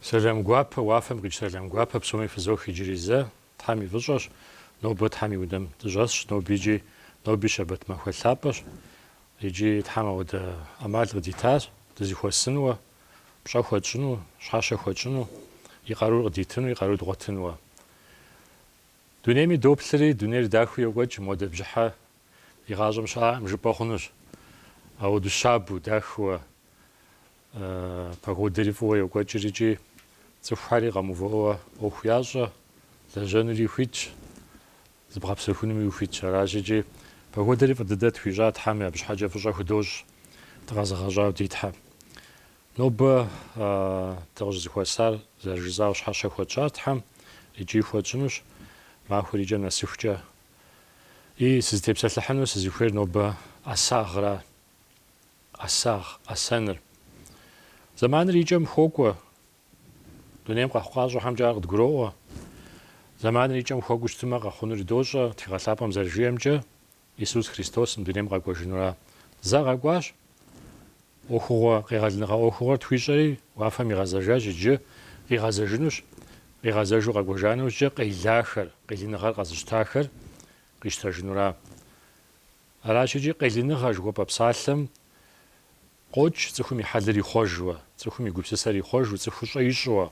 Сэлам гуапэ, уафэм къикӏ сэлам гуапэ псоми фызох иджыри зэ, Тхьэм и фӏыщӏэщ, нобэ Тхьэм и унэм дыщӏэсщ, нобикӏи, ноби щэбэт махуэ лъапӏэщ, иджы Тхьэм ауэдэ ӏэмал къыдитащ, дызыхуэсынуэ, пщӏэ хуэтщӏыну, щхьэщэ хуэтщӏыну, и къарур къыдитыну, и къару дгъуэтынуэ. Дунейми доплъри, дунейр дахыу йокӏуэкӏ, модэ бжьыхьэ И гъащӏэм щыӏэм жыпӏэ хъунущ. Ауэду щабэу, дахэуэ, погодэри фӏыуэ йокӏуэкӏыр икӏи цӏыхухьэри къэмыувыӏэуэ ӏуэху ящӏэ, лэжьэнури ухуитщ, зыбгъэпсэхунуми ухуитщ. Аращ икӏи погодэри фӏы дыдэ тхуищӏа Тхьэм абы щхьэкӏэ фӏыщӏэ худощӏ дыкъэзыгъэщӏауэ ди Тхьэм. Нобэ дыкъыщӏызыхуэсар зэрыжысӏауэ щхьэщэ хуэтщӏар Тхьэм икӏи хуэтщӏынущ, махуэр икӏэм нэсыхукӏэ И, сызытепсэлъыхьыну сызыхуейр нобэ ӏэсагъращ, ӏэсагъ, ӏэсэныр. Зэманыр и кӏэм хуокӏуэ. Дунейм къэхъукъащӏэхьэмкӏэ ар къыдгуроӏуэ. Зэманыр и кӏэм хуэкӏуу щытымэ, къэхъунури дощӏэ, тхыгъэ лъапӏэм зэрыжиӏэмкӏэ, Исус Христос мы дунейм къэкӏуэжынуращ. Зэ къэкӏуащ. ӏуэхугъуэ къегъэлыныгъэ ӏуэхугъуэр тхуищӏэри уафэм игъэзэжащ иджы, къигъэзэжынущ, къигъэзэжу къэкӏуэжа нэужькӏэ къелахэр, къелыныгъэр къэзыщтахэр къищтэжынуращ. Аращ икӏи къелыныгъэ жыхуэпӏэ псалъэм къокӏ цӏыхум и хьэлыр ихъуэжуэ, цӏыхум и гупсысэр ихъуэжу, цӏыхущӏэ ищӏуэ,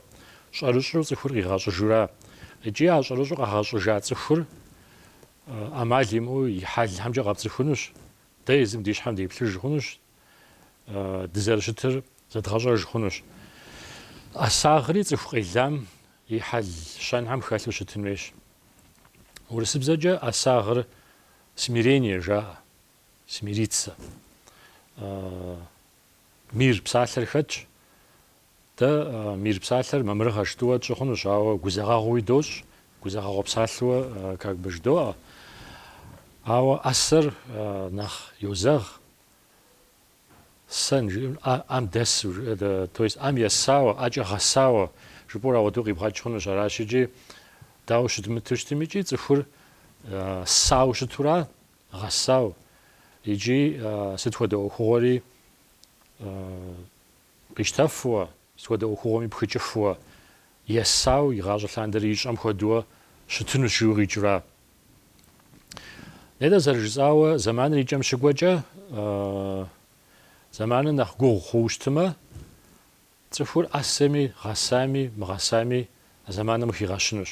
щӏэрыщӏэу цӏыхур къигъэщӏыжура икӏи а щӏэрыщӏэу къэгъэщӏыжа цӏыхур ӏэмал имыӏэу и хьэлхэмкӏэ къэпцӏыхунущ, Дэ езым ди щхьэм деплъыж хъунущ, дызэрыщытыр зэдгъэщӏэж хъунущ. ӏэсагъри цӏыху къелам и хьэл щэнхьэм хэлъу щытын хуейщ. Урысыбзэкӏэ ӏэсагъыр смирение жаӏэ, смириться. Мир псалъэр хэтщ, Дэ мир псалъэр мамырыгъэ щытуэ тщӏы хъунущ, ауэ гузэгъэгъууи дощӏ, гузэгъэгъуэ псалъэуэ как бы жыдоӏэ. Ауэ ӏэсэр нэхъ йозэгъ, сыт жыпӏэмэ, ӏэ, ӏэм дэсу жиӏэ, то есть ӏэм есауэ, ӏэкӏэ гъэсауэ жыпӏэур ауэдэу къибгъэкӏ хъунущ. Аращ икӏи дауэ щымыту щытым икӏи цӏыхур есау щытура, гъэсау, икӏи сыт хуэдэ ӏуэхугъуэри Къищтэфуэ, сыт хуэдэ ӏуэхугъуэми пхыкӏыфуэ, есау игъащӏэ лъандэрэ ищӏэм хуэдуэ щытынущ жиӏэу къикӏращ. Нтӏэ, зэрыжысӏауэ, зэманыр и кӏэм щыкӏуэкӏэ, зэманыр нэхъ гугъу хъууэ щытымэ, цӏыхур ӏэсэми, гъэсами, мыгъэсами а зэманым къыхигъэщынущ.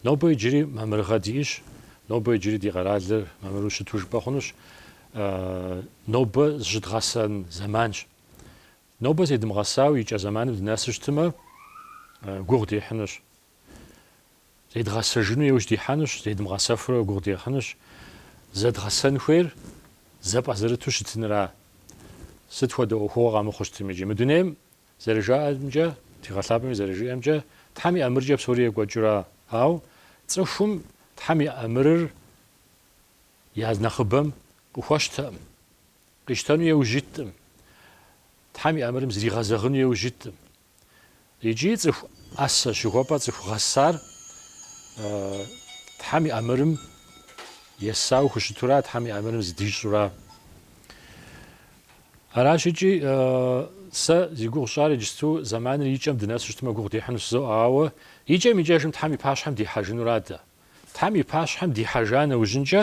Нобэ иджыри мамырыгъэ диӏэщ, нобэ иджыри ди къэралыр мамыру щыту жыпӏэ хъунущ, нобэ зыщыдгъэсэн зэманщ. Нобэ зедмыгъэсауэ и кӏэ зэманым дынэсу щытымэ, гугъу дехьынущ. Зедгъэсэжыну еужь дихьэнущ, зедмыгъэсэфурэ гугъу дехьынущ. Зэдгъэсэн хуейр зэпӏэзэрыту щытынра. Сыт хуэдэ ӏуэхугъуэ къэмыхъуу щытым икӏи, мы дунейм, зэрыжаӏэмкӏэ, тхыгъэлъапӏэми зэрыжиӏэмкӏэ, Тхьэм и ӏэмыркӏэ псори екӏуэкӏыра. Ауэ цӏыхум Тхьэм и ӏэмырыр я нэхъыбэм къыхуэщтэкъым. Къищтэну еужь иткъым. Тхьэм и ӏэмырым зригъэзэгъыну еужь иткъым. Икӏи цӏыху ӏэсэ жыхуэпӏэ цӏыху гъэсар Тхьэм и ӏэмырым есауэ хущытура, Тхьэм и ӏэмырым зыдищӏура. Аращ икӏи сэ зи гугъу сщӏар иджысту зэманыр икӏэм дынэсу щытмэ гугъу дехьыну жызоӏэ, ауэ икӏэм-икӏэжым Тхьэм и пащхьэм дихьэжынура дэ. Тхьэм и пащхьэм дихьэжа нэужьынкӏэ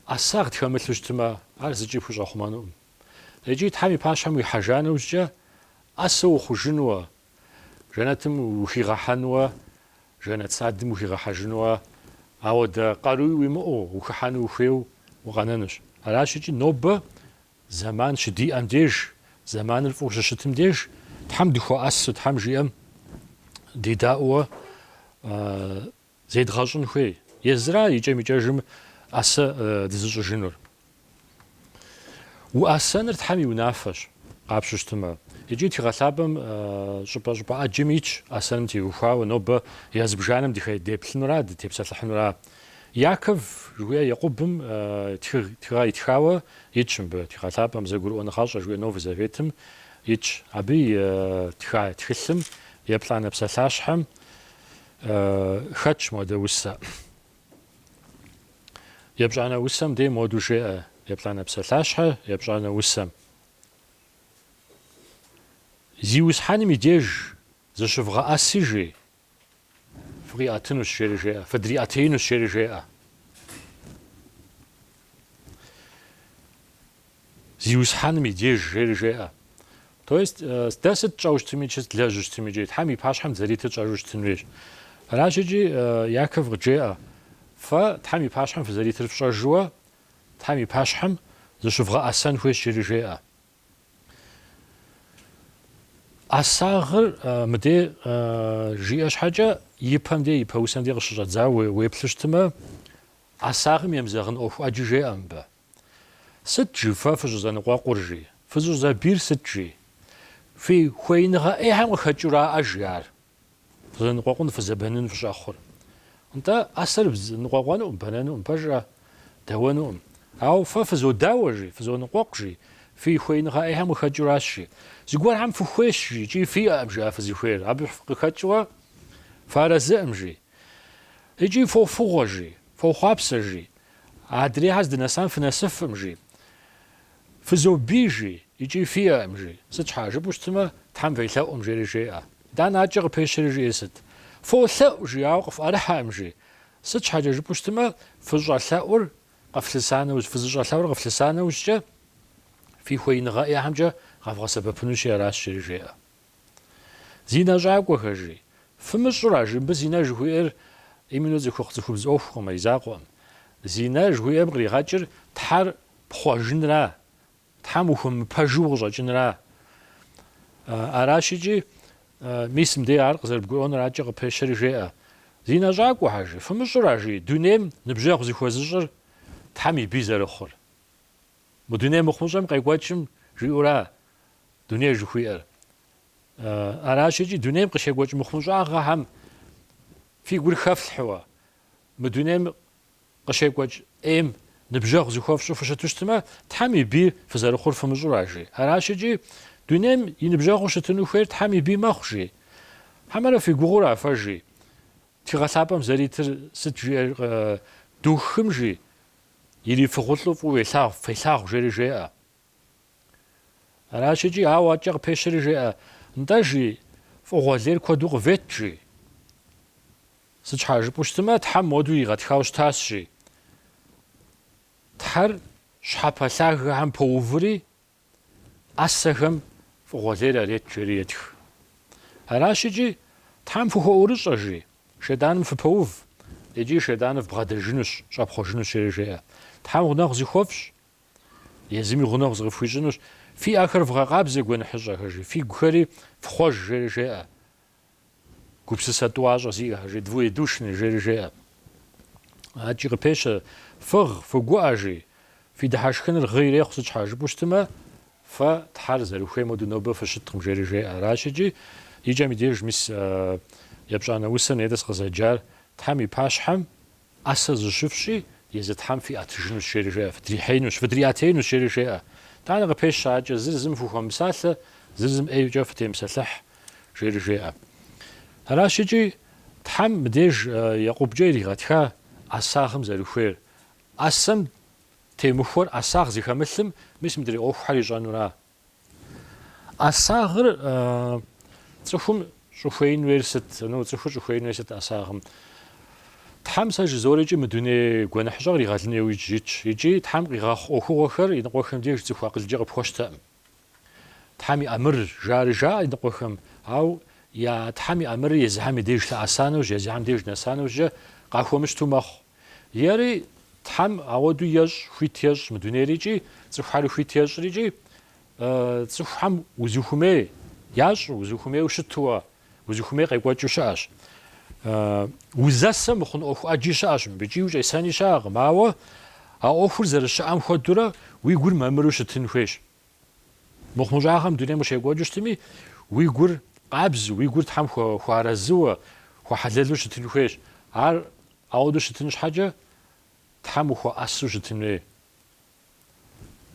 ӏэсагъ дхэмылъу щытмэ, ар зыкӏи пхущӏэхъумэнукъым. Икӏи Тхьэм и пащхьэм уихьэжа нэужькӏэ ӏэсэу ухъужынуэ, жэнэтым ухигъэхьэнуэ, жэнэт садым ухигъэхьэжынуэ, ауэ дэ къаруи уимыӏэу, ухыхьэну ухуейуэ укъэнэнущ. Аращ икӏи нобэ Зэман щыдиӏэм деж, зэманыр фӏыуэ щыщытым деж Тхьэм дыхуэӏэсу, Тхьэм жиӏэм дедаӏууэ зедгъэщӏын хуей. Езыра икӏэм-икӏэжым ӏэсэ дызыщӏыжынур. Уӏэсэныр Тхьэм и унафэщ, къапщтэу щытымэ. Икӏи тхыгъэлъапӏэм щӏыпӏэ-щӏыпӏэ ӏэджэм итщ ӏэсэным теухуауэ нобэ я зыбжанэм дыхэ, деплъынура, дытепсэлъыхьынура. Яков жыхуиӏэ Екъубым тхыгъ, тхыгъэ итхауэ итщ мыбы, тхыгъэ лъапӏэм Зэгурыӏуэныгъэщӏэ жыхуиӏэ Новый Заветым итщ. Абы итха тхылъым еплӏанэ псалъащхьэм хэтщ модэ усэ. Епщӏанэ усэм де моду жеӏэ, еплӏанэ псалъащхьэ епщӏанэ усэм. Зиусхьэным и деж зыщывгъэӏэси жи, Фыкъиӏэтынущ, жери жеӏэ. Фыдриӏэтеинущ, жери жеӏэ. Зиусхьэным и деж, жери жеӏэ. То есть, э, дэ сыт тщӏэу щытым икӏи, сыт длэжьу щытым икӏи, Тхьэм и пащхьэм дызэритыр тщӏэжу щытын хуейщ. Аращ икӏи э, Яков къыджеӏэ, фэ Тхьэм и пащхьэм фызэритыр фщӏэжуэ, Тхьэм и пащхьэм зыщывгъэӏэсэн хуейщ, жери жеӏэ. ӏэсагъыр мыдей жиӏэ щхьэкӏэ ипэм де, ипэ усэм де къыщыщӏэдзауэ уеплъу щытымэ, ӏэсагъым емызэгъын ӏуэху ӏэджи жеӏэ мыбы. Сыт жи фэ фыщӏызэныкъуэкъур жи? Фыщӏызэбийр сыт жи? Фи хуеиныгъэ ӏейхэм къыхэкӏыураӏэ жи ар? Фызэныкъуэкъун фызэбэнын фыщӏэхъур. Нтӏэ, ӏэсэр ныкъуэкъуэнукъым, бэнэнукъым, пэжкъэ? Дэуэнукъым. Ауэ фэ фызодауэ, жи, фызоныкъуэкъу, жи, фи хуеиныгъэ ӏейхэм къыхэкӏыуращ, жи. Зыгуэрхэм фыхуейщ, жи, икӏи фиӏэкъым, жи, а фызыхуейр. Абы къыхэкӏыуэ фыарэзыӏым, жи. Икӏи фофыгъуэ, жи, фохъуапсэ, жи. Адрейхэр здынэсам фынэсыфкъым, жи. Фызобий, жи, икӏи фиӏэкъым, жи. Сыт щхьа жыпӏэу щытымэ, Тхьэм фелъэӏукъым, жери жеӏэ. Итӏанэ адэкӏэ къыпещэри, жиӏэр сыт? Фолъэӏу, жи, ауэ къыфӏэрыхьэкъым, жи. Сыт щхьэкӏэ жыпӏэу щытымэ, фыщӏэлъэӏур къыфлъыса нэужь, фызыщӏэлъэӏур къыфлъыса нэужькӏэ, фи хуеиныгъэ ӏейхэмкӏэ къэвгъэсэбэпынущи аращ, жери жеӏэ. Зинэщӏакӏуэхэ, жи. Фымыщӏыра, жи, мыбы зинэ жыхуиӏэр именно цӏыхухъу цӏыхубз ӏуэхукъым, ар и закъуэкъым. Зинэ жыхуиӏэм къригъэкӏыр Тхьэр пхъуэжынра, Тхьэм ухуэмыпэжу укъыщӏэкӏынра. Аращ икӏи, мис мыдей ар къызэрыбгурыӏуэныр адэкӏэ къыпещэри жеӏэ. Зинэщӏакӏуэхэ, жи. Фымыщӏыра, жи, дунейм ныбжьэгъу зыхуэзыщӏыр Тхьэм и бий зэрыхъур. Мы дуней мыхъумыщӏэм къекӏуэкӏым жиӏэура дуней жыхуиӏэр. Аращ икӏи дунейм къыщекӏуэкӏ мыхъумыщӏагъэхэм фи гур хэфлъхьэуэ, мы дунейм къыщекӏуэкӏ ӏейм ныбжьэгъу зыхуэфщӏу фыщыту щытымэ, Тхьэм и бий фызэрыхъур фымыщӏыра, жи. Аращ икӏи дунейм и ныбжьэгъуу щытыну хуейр Тхьэм и бий мэхъу, жи. Хьэмэрэ фи гугъэу ара фэ, жи. Тхыгъэлъапӏэм зэритыр сыт жиӏэр Духым, жи. Ирифыгъулӏу фӏыуэ фелъагъу, жери жеӏэ. Аращ икӏи, ауэ адэкӏэ къыпещэри жеӏэ, Нтӏэ, жи, фӏыгъуэ лейр куэду къывет, жи. Сыт щхьа жыпӏэу щытымэ, Тхьэм моду иригъэтхауэ щытащ, жи. Тхьэр щхьэпэ лъагэхэм поуври, ӏэсэхэм фӏыгъуэ лейр арет жери етх. Аращ икӏи, Тхьэм фыхуэӏурыщӏэ, жи, шейтӏаным фыпэув, икӏи шейтӏаныр вбгъэдэжынущ, щӏэпхъуэжынущ, жери жеӏэ. Тхьэм гъунэгъу зыхуэфщӏ, езыми гъунэгъу зыкъыфхуищӏынущ, фи ӏэхэр вгъэкъабзэ гуэныхьыщӏэхэр, жи, фигухэри фхъуэж, жери жеӏэ. Гупсысэ тӏуащӏэ зиӏэхэ, жи, двоедушны, жери жеӏэ. Адэкӏи къыпещэ, Фыгъ, фыгуӏэ, жи, фи дыхьэшхыныр гъы ирехъу. Сыт щхьа жыпӏэу щытымэ, фэ Тхьэр зэрыхуейм хуэду нобэ фыщыткъым, жери жеӏэ. Аращ икӏи и кӏэм и деж мис епщӏанэ усэр нетӏыс къызэджар Тхьэм и пащхьэм ӏэсэ зыщыфщӏи, езы Тхьэм фиӏэтыжынущ, жери жеӏэ, фыдрихьеинущ, фыдриӏэтеинущ, жери жеӏэ. Тӏанэ къыпещэ адэкӏэ, зыр зым фыхуэмыпсалъэ, зыр зым ӏейкӏэ фытемыпсэлъыхь, жери жеӏэ. Аращ икӏи Тхьэм мыбдеж Екъубкӏэ иригъэтха ӏэсагъым зэрыхуейр. ӏэсэм темыхуэр ӏэсагъ зыхэмылъым, мис мыдрей ӏуэхухэр ищӏэнура? ӏэсагъыр цӏыхум щӏыхуеин хуейр сыт? Ну, цӏыхур щӏыхуеин хуейр сыт ӏэсагъым? Тхьэм сэ жызорикӏи мы дуней гуэныхьыщӏэ къригъэлыну иужь итщ, икӏи Тхьэм къигъэхъу ӏуэхугъуэхэр иныкъуэхэм деж цӏыху акъылкӏэ къыпхуэщтэӏым. Тхьэм и ӏэмыр жари жаӏэ иныкъуэхэм, ауэ Тхьэм и ӏэмырыр езыхьэм и деж лъэӏэса нэужь, езыхьэм деж нэса нэужькӏэ къахуэмыщту мэхъу. Ери, Тхьэм ауэду ещӏ, хуит ещӏ мы дунейр икӏи, цӏыхухьэри хуит ещӏыр икӏи, цӏыхухьэм узыхумей ящӏу, узыхумейуэ щытуэ, узыхумей къекӏуэкӏыу щыӏэщ. Узэсэ мыхъун ӏуэху ӏэджи щыӏэщ мыбыкӏи, ущӏесэни щыӏэкъым, ауэ а ӏуэхур зэрыщыӏэм хуэдурэ уи гур мамыру щытын хуейщ. Мыхъумыщӏагъэм дунейм къыщекӏуэкӏыу щытми, уи гур къабзу, уи гур Тхьэм хуэарэзыуэ, хуэхьэлэлу щытын хуейщ. Ар ауэдэу щытын щхьэкӏэ, Тхьэм ухуэӏэсу щытын хуей.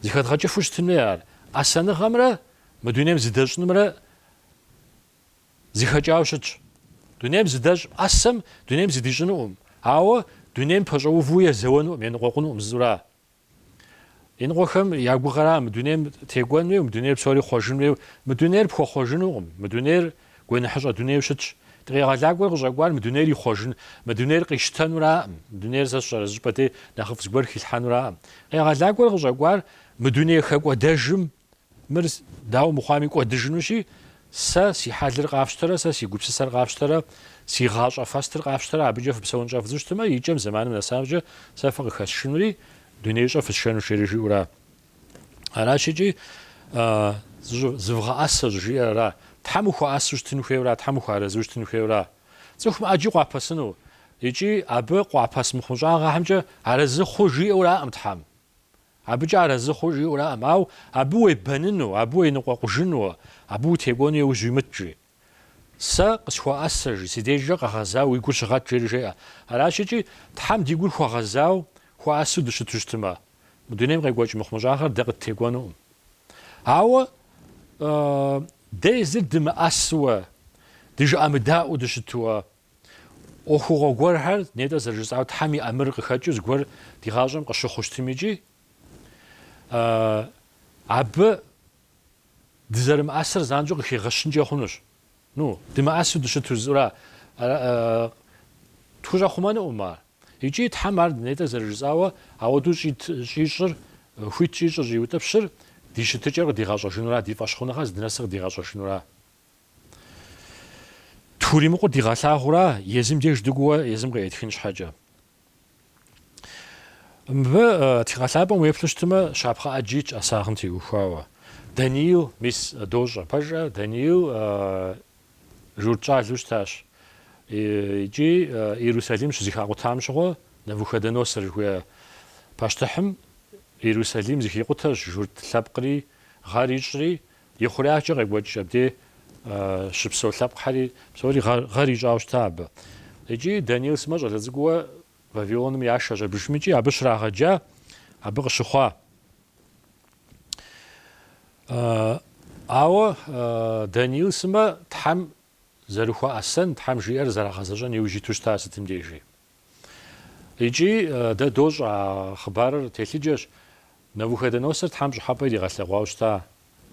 Зыхэдгъэкӏыфу щытын хуей ар. ӏэсэныгъэмрэ мы дунейм зыдэщӏынымрэ зыхэкӏауэ щытщ. Дунейм зыдэщӏ ӏэсэм дунейм зыдищӏынуӏым, ауэ дунейм пэщӏэуву езэуэнуӏым, еныкъуэкъунуӏым зыура. Иныкъуэхэм я гугъэра мы дунейм текӏуэн хуейуэ, мы дунейр псори хъуэжын хуейуэ? Мы дунейр пхуэхъуэжынукъым. Мы дунейр гуэныхьыщӏэ дунейуэ щытщ. Ди Къегъэлакӏуэр къыщӏэкӏуар мы дунейр ихъуэжын, мы дунейр къищтэнураӏым. Мы дунейр сэ сщӏэрэ, зыщӏыпӏэ дей нэхъыфӏ зыгуэр хилъхьэнураӏым. Къегъэлакӏуэр къыщӏэкӏуар мы дуней хэкӏуэдэжым Мыр дауэ мыхъуами кӏуэдыжынущи, сэ си хьэлыр къафщтэрэ, сэ си гупсысэр къафщтэрэ, си гъащӏэ фэстыр къафщтэрэ, абыкӏэ фыпсэун щӏэфдзу щытмэ, икӏэм зэманым нэсамкӏэ сэ фыкъыхэсшынури, дунеищӏэ фысшэнущ жери жиӏэура? Аращ икӏи зывгъэӏэсэ щӏыжиӏэра. Тхьэм ухуэӏэсу щытын хуейуэра, Тхьэм ухуэарэзыу щытын хуейуэра? Цӏыхум ӏэджи къуапэсыну икӏи абы къуапэс мыхъумыщӏагъэхьэмкӏэ арэзы хъу жиӏэураӏым Тхьэм. Абыкӏэ арэзы хъу жиӏэураӏым, ауэ абы уебэныну, абы уеныкъуэкъужыну, абы утекӏуэну иужь уимыт, жи. Сэ къысхуэӏэсэ, жи, си дежкӏэ къэгъэзауэ уи гур щыгъэт, жери жеӏэ. Аращ икӏи, Тхьэм ди гур хуэгъэзау, хуэӏэсу дыщыту щытмэ, мы дунейм къекӏуэкӏ мыхъумыщӏагъэр дэ къыттекӏуэнукъым. Ауэ дэ езыр дымыӏэсуэ, дыжыӏэмыдаӏуэу дыщытуэ ӏуэхугъуэ гуэрхэр, нетӏэ зэрыжысӏауэ Тхьэм и ӏэмыр къыхэкӏыу зыгуэр ди гъащӏэм къыщыхъу щытым икӏи абы дызэрымыӏэсыр занщӏэу къыхигъэщынкӏэ хъунущ. Ну, дымыӏэсу дыщыту зыура тхущӏэхъумэнуӏым ар. Икӏи Тхьэм ар нетӏэ зэрыжысӏауэ ауэдэу щӏит щӏищӏыр, хуит щӏищӏыр, щӏиутӏыпщыр ди щытыкӏэр къыдигъэщӏэжынура, ди фӏэщхъуныгъэр здынэсыр къыдигъэщӏэжынура. Тхуримыкъур дигъэлъагъура, езым деж дыкӏууэ езым къеӏытхын щхьэкӏэ. Мыбы тхыгъэлъапӏэм уеплъу щытымэ, щапхъэ ӏэджи итщ ӏэсагъым теухуауэ. Даниил, мис дощӏэ, пэжӏэ, Даниил журт щӏалэу щытащ икӏи Иерусалим щызыхакъутам щыгъуэ Навуходоносор жыхуея пащтыхьым Иерусалим зыхикъутэщ журт лъэпкъри, гъэр ищӏри, И хъуреягъкӏэ къекӏуэкӏ абдей щыпсэу лъэпкъхьэри псори гъэр ищӏауэ щыта абы. Икӏи Даниил сымэ щӏалэ цӏыкӏууэ Вавилоным яшэщ абыжым икӏи абы щрагъэджа абы къыщыхъуа. Ауэ Даниил сымэ Тхьэм зэрыхуэӏэсэн, Тхьэм жиӏэр зэрагъэзэщӏэн иужь иту щыта сытым дежи. Икӏи дэ дощӏэ а хъыбарыр телъыджэщ, Навуходоносор Тхьэм пщӏыхьэпӏэ иригъэлъэгъуауэ щыта.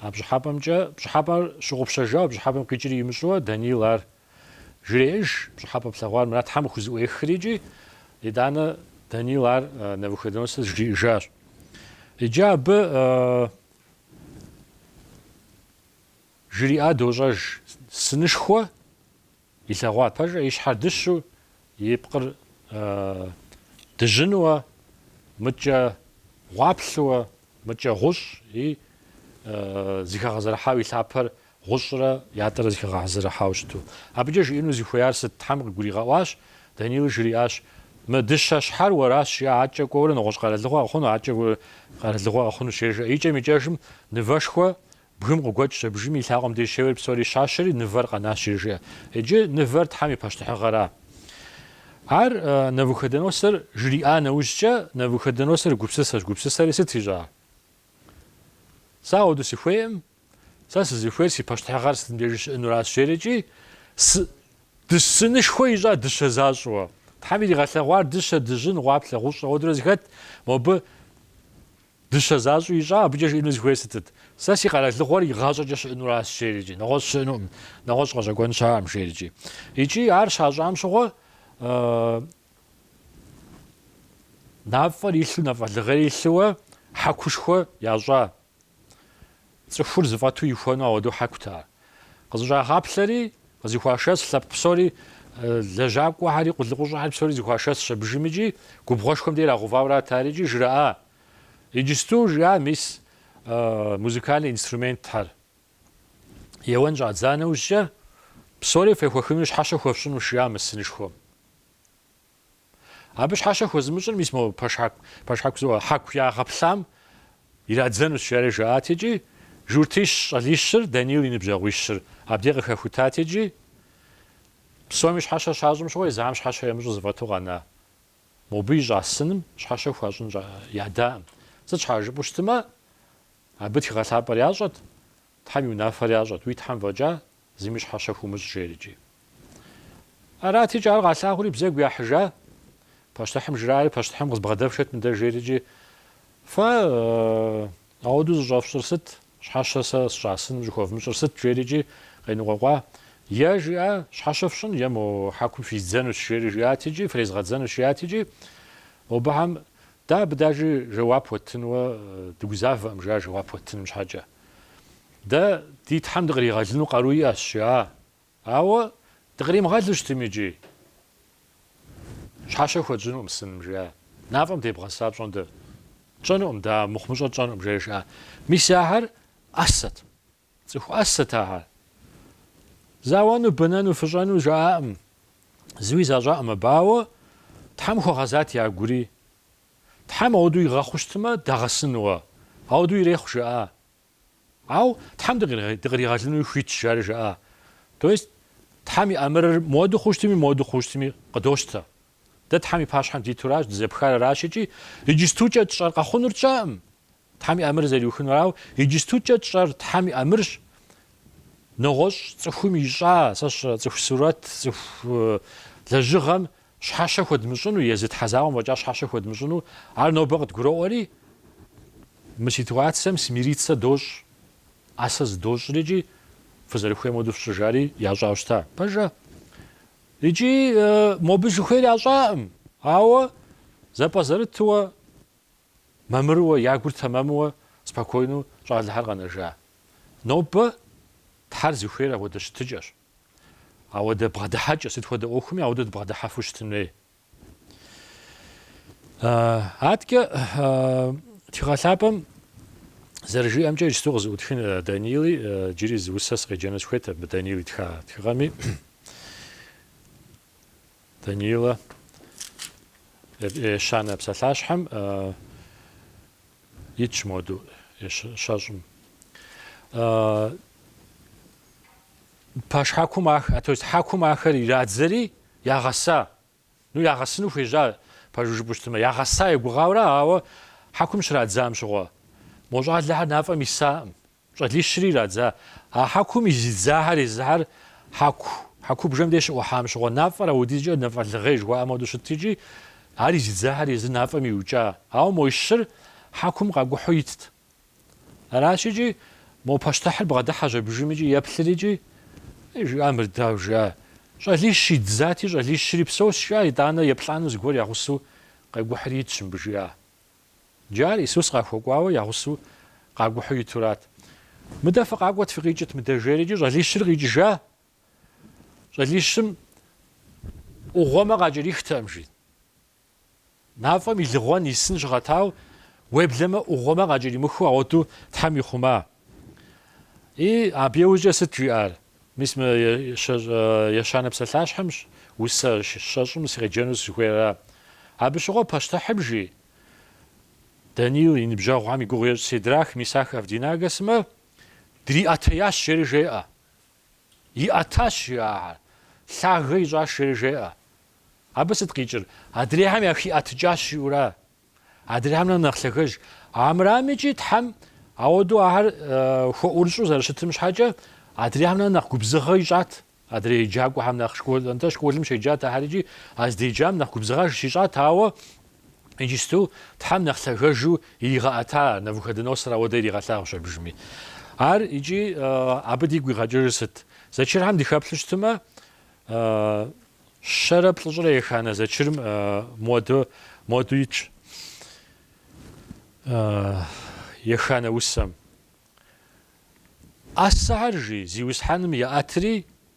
А пщӏыхьэпӏэмкӏэ, пщӏыхьэпӏэр щыгъупщэжауэ, пщӏыхьэпӏэм къикӏри имыщӏэуэ, Даниил ар жреӏэж, пщӏыхьэпӏэ плъэгъуар мыра Тхьэм къыхузыӏуехри икӏи, итӏанэ Даниил ар Навуходоносор жриӏэжащ. Иджы абы жриӏа дощӏэж, Сынышхуэ? Илъэгъуа, пэжӏэ, и щхьэр дыщу, и пкъыр дыжьынуэ, мыдкӏэ гъуаплъыуэ, мыдкӏэ гъущӏ и зыхэгъэзэрыхьау и лъапэр гъущӏрэ ятӏэрэ зыхэгъэзэрыхьауэ щыту. Абыкӏэ жиӏэну зыхуеяр сыт? Тхьэм къыгуригъэӏуащ, Даниил жриӏащ, Мы дыщэ щхьэр уэращ, адкӏэ кӏуэурэ нэгъуэщӏ къэралыгъуэ къыхъуну, адкӏэ къэралыгъуэ къыхъунущ, жеӏэ. Икӏэм-икӏэжым, нывэшхуэ Бгым къыгуэкӏщ абыжым и лъакъуэм деж щеуэри псори щащэри, Нывэр къэнащ, жреӏэ. Иджы Нывэр Тхьэм и пащтыхьыгъэра? Ар, Навуходоносор, жриӏа нэужькӏэ, Навуходоносор гупсысэщ, гупсысэри сыт ищӏа? Сэ ауэду сыхуейӏым, сэ сызыхуейр си пащтыхьыгъэр сытым дежи щыӏэнуращ, жери икӏи, сынышхуэ ищӏа дыщэ защӏэуэ? Тхьэм иригъэлъэгъуар дыщэ дыжьын, гъуаплъэ гъущӏ ауэдурэ зыхэт, мобы. Дыщэ защӏу ищӏа, абыкӏэ жиӏэну зыхуейр сытыт? Сэ си къэралыгъуэр игъащӏэкӏэ щыӏэнуращ, жери икӏи, нэгъуэщӏ щыӏэнукъым, нэгъуэщӏ къэщӏэкӏуэн щыӏэкъым, жери икӏи. Икӏи ар щащӏам щыгъуэ, нафӏэр илъу, нафӏэлыгъейр илъууэ, хьэкушхуэ ящӏа. Цӏыхур зыфӏэту ихуэну ауэдэу хьэкут ар. Къызыщӏагъаплъэри, къызыхуашэс лъэпкъ псори, лэжьакӏуэхьэри, къулыкъущӏэхьэри псори зыхуашэсщ абыжым икӏи губгъуэшхуэм де ирагъэувауэрат ари икӏи жраӏа, иджысту жиӏа мис музыкальный инструментхьэр еуэн щӏадза нэужькӏэ, псори фехуэхыну щхьэщэ хуэфщӏынущ, жиӏа мы сынышхуэм. Абы щхьэщэ хуэзымыщӏыр мис мо пэшхьэку, пэшхьэку зыӏуэ, хьэку ягъэплъам ирадзэнущ, жари жаӏат икӏи журтищ щӏалищыр, Данил и ныбжьэгъуищыр абдей къыхэхутат икӏи псоми щхьэщэ щащӏым щыгъуэ езыхьэм щхьэщэ ямыщӏу зэфӏэту къэна. Мобы ищӏа сыным щхьэщэ хуащӏын ядаӏым. Сыт щхьа жыпӏэу щытымэ, абы тхыгъэ лъапӏэр ящӏэт, Тхьэм и унафэр ящӏэт, уи Тхьэм фӏэкӏа Зыми щхьэщэ хумыщӏ, жери икӏи. Арат икӏи, ар къалъагъури бзэгу яхьыжа, пащтыхьым жраӏэри, пащтыхьым къызбгъэдэфшэт мыдэ, жери икӏи. Фэ ауэдэу зыщӏэфщӏыр сыт, щхьэщэ сэ сщӏа сыным щӏыхуэвмыщӏыр сыт, жери икӏи, къеныкъуэкъуа. Е жиӏа, щхьэщэ фщӏын, е мо хьэкум физдзэнущ, жери жиӏат икӏи, фрезгъэдзэнущ, жиӏат икӏи. Мобыхьэм, дэ абы даже жэуап уэттынуэ дыгузавэкъым, жиӏащ, жэуап уэттыным щхьэкӏэ. Дэ ди Тхьэм дыкъригъэлыну къару иӏэщ, жаӏэ. Ауэ дыкъримыгъэлу щытым икӏи, щхьэщэ хуэдщӏынукъым сыным, жиӏэ. Нафӏэм дебгъэса пщӏондэ. Тщӏэнукъым дэ, мыхъумыщӏэ тщӏэнукъым, жери жаӏэ. Мис ахэр ӏэсэт. Цӏыху ӏэсэт ахэр. Зауэну, бэнэну, фыщӏэну жаӏакъым. Зыуи защӏакъым абы, ауэ Тхьэм хуэгъэзат я гури. Тхьэм ауэдэу игъэхъуу щытмэ, дагъэсынуэ. Ауэдэу ирехъу, жаӏа. Ауэ Тхьэм дыкъыригъэлынуи хуитщ, жари жаӏа. То есть Тхьэм и ӏэмырыр моуэду хъуу щытми, моуэду хъуу щытми къыдощтэ. Дэ Тхьэм и пащхьэм дитуращ, дызэпхар аращ икӏи иджыстукӏэ тщӏэр къэхъунур тщӏэкъым. Тхьэм и ӏэмыр зэриухынур, ауэ иджыстукӏэ тщӏэр Тхьэм и ӏэмырщ. Нэгъуэщӏ цӏыхум ищӏа, сэ сщӏэрэ, цӏыху сурэт, цӏыху лэжьыгъэм Щхьэщэ хуэдмыщӏыну, езы Тхьэ закъуэм фӏэкӏа щхьэщэ хуэдмыщӏыну, ар нобэ къыдгуроӏуэри, мы ситуацием смириться дощӏ, ӏэсэ зыдощӏри икӏи фызэрыхуейм хуэдэу фщӏы, жари ящӏауэ щыта. Пэжа? Икӏи мобы жыхуиӏэр ящӏакъым, ауэ зэпӏэзэрытыуэ, мамырыуэ, я гур тэмэмыуэ, спокойнэу щӏалэхэр къэнэжа. Нобэ Тхьэр зыхуейр апхуэдэ щытыкӏэщ. Ауэдэ бгъэдыхьэкӏэ, сыт хуэдэ ӏуэхуми ауэдэ дыбгъэдыхьэфу щытын хуей. Адэкӏэ Тхыгъэ Лъапӏэм зэрыжиӏэмкӏэ иджысту къызэӏутхын Даниил, иджыри зы усэ сыкъеджэну сыхуейт абы Даниил итха тхыгъэми. Даниилэ ещанэ псалъащхьэм итщ моду щэщӏым. Пэшхьэкум, а то есть хьэкум ахэр ирадзэри, ягъэса. Ну, ягъэсыну хуежьа, пэжу жыпӏэу щытымэ, ягъэса егугъауэра, ауэ хьэкум щрадзам щыгъуэ, мо щӏалэхэр нафӏэм исакъым, щӏалищри ирадза. А хьэкум и зи дзахэр езыхьэр хьэку, хьэкубжэм де щыӏухьам щыгъуэ нафӏэр аудизкӏэ нафӏэлыгъей жыхуаӏэм хуэдэу щытт икӏи, ар и зи дзахэр езы нафӏэм иукӏа. Ауэ мо и щыр хьэкум къакӏухьу итт. Аращ икӏи, мо пащтыхьыр бгъэдыхьэщ абыжым икӏи еплъыр икӏи, ей, жиӏа мыр, дауэ жиӏа, щӏалищ идзати, щӏалищри псощ, жиӏа, итӏанэ еплӏану зыгуэр я гъусэу къегухьри итщ мыбы жиӏа. Иджы ар Исус къахуэкӏуауэ я гъусэу къагухьу итурат. Мыдэ фыкъакӏуэт, фыкъикӏыт мыдэ, жери икӏи щӏалищыр къикӏыжа, щӏалищым ӏугъуэмэ къакӏэрихтэкъым, жи. Нафӏэм и лыгъуэн исын щыгъэтау, уеблэмэ ӏугъуэмэ къакӏэримыхыу ауэду Тхьэм ихъума. И, абы иужькӏэ сыт жиӏар? Мис мы ещанэ псалъащхьэмщ усэ щэщӏым сыкъеджэну сызыхуейра? Абы щыгъуэ пащтыхьым жи? Даниил и ныбжьэгъухэм и гугъу ещӏ Седрах, Мисах, Авдинагэ сымэ дриӏэтеящ, жери жеӏэ. Иӏэтащ ахэр. Лъагэ ищӏащ, жери жеӏэ. Абы сыт къикӏыр? Адрейхэм яхиӏэтыкӏащ, жиӏэура? Адрейхэмрэ нэхъ лъагэж. Армырами икӏи Тхьэм ауэдэу ахэр хуэӏурыщӏу зэрыщытым щхьэкӏэ, адрейхэмрэ нэхъ губзыгъэ ищӏат. Адрей еджакӏуэхэм нэхъ школым щеджат ахэр икӏи, а здеджам нэхъ губзыгъэж щищӏат, ауэ Иджысту Тхьэм нэхъ лъагэжу иригъэӏэта Навуходоносор ауэдэ иригъэлъагъущ абыжми. Ар икӏи абы дигу игъэкӏыжыр сыт? Зэчырхьэм дыхэплъу щытымэ, щэрэ плӏыщӏрэ еханэ зэчырым моду, моду итщ еханэ усэм. Ӏэсэхэр, жи, Зиусхьэным еӏэтри,